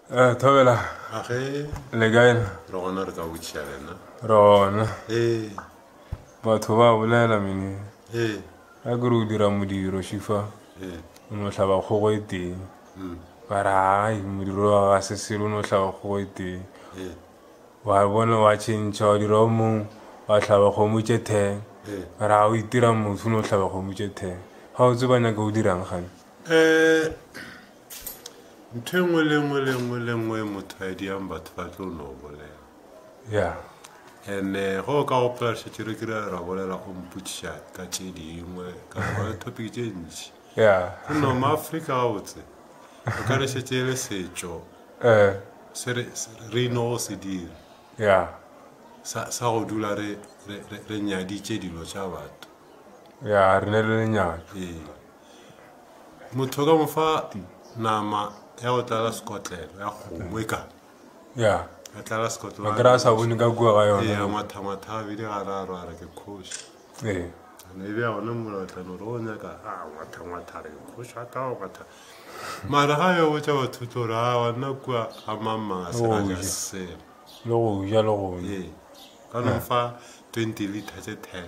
Eh, thobela a ge le kae na re gona re ka botšha lena rona ee batho ba bolela mene ee a kere o dira modiro shifa ee o no tlhaba kgogo e teng mm, ba re ai modiro wa ga se selo o no tlhaba kgogo e teng ee wa bona wa tšhentšha wa dira o mongwe wa tlhaba kgomo tše ten ee ba re ga o itira motho o no tlhaba kgomo tše ten ga o tse ba nyaka o dirang gane um Ntho e nngwe le e nngwe le e nngwe le e nngwe e motho a e diang batho ba tlo no bolela. Yeah. And-e eh, ge o ka gopola šetše re kire ra bolela o mpotšiša ka tše dingwe ka gona topic tše ntši. Yeah. Go no ma Afrika gabotse. O ka re šetše e le setšo. Eh. Se re se- re ino go se dira. Yeah. Sa sa go dula re re re- re nyaditše dilo tša batho. Yeah, re ne le lenyalo. Ee. motho ka mofa nama ya go tlala sekotlelo ya kgomo e ka ya ya tlala sekotlelo ba kry-a sa bone ka kua ga yone ya mathamatha a bile ga ra rwara ke kgoši ee ne e bja gone molatlano re o nyaka a mathamatha re kgoši a ka matha mara ga yo botsa batho tlo re a wanna kua ga mamang a sera ja selo le go ja le go ee ka no fa twenty liter tse ten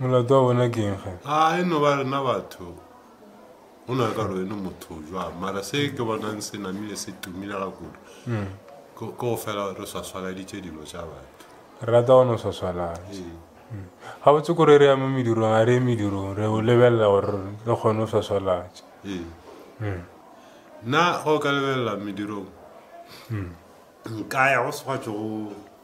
Molato wa bona ke eng ge? A e no ba rena batho go na ka rwene motho jwang mara se ke bonang se namile se tumile ga kudu mm. ko go fela re swaswaladitše dilo tša batho re rata gone o swaswalala ee. mm. ga botse kore re ya mo medirong ga re ye medirong re o lebelela gore re kgone o swaswalatše ee. mm. nna go ka lebelela medirong mm. nka ya go swatsego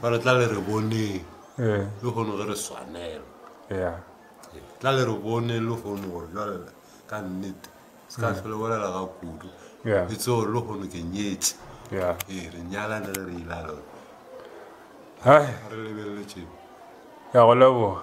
ba re tla le re boneng eh. le kgone ge re swanela ya tla le re bone le kgone gore jale ka nnete se ka tlhole mm. bolela ga kudu e tse gore le kgone ke nyetse ee re nyalane re re ila le gore re lebeleletseng ya go leboga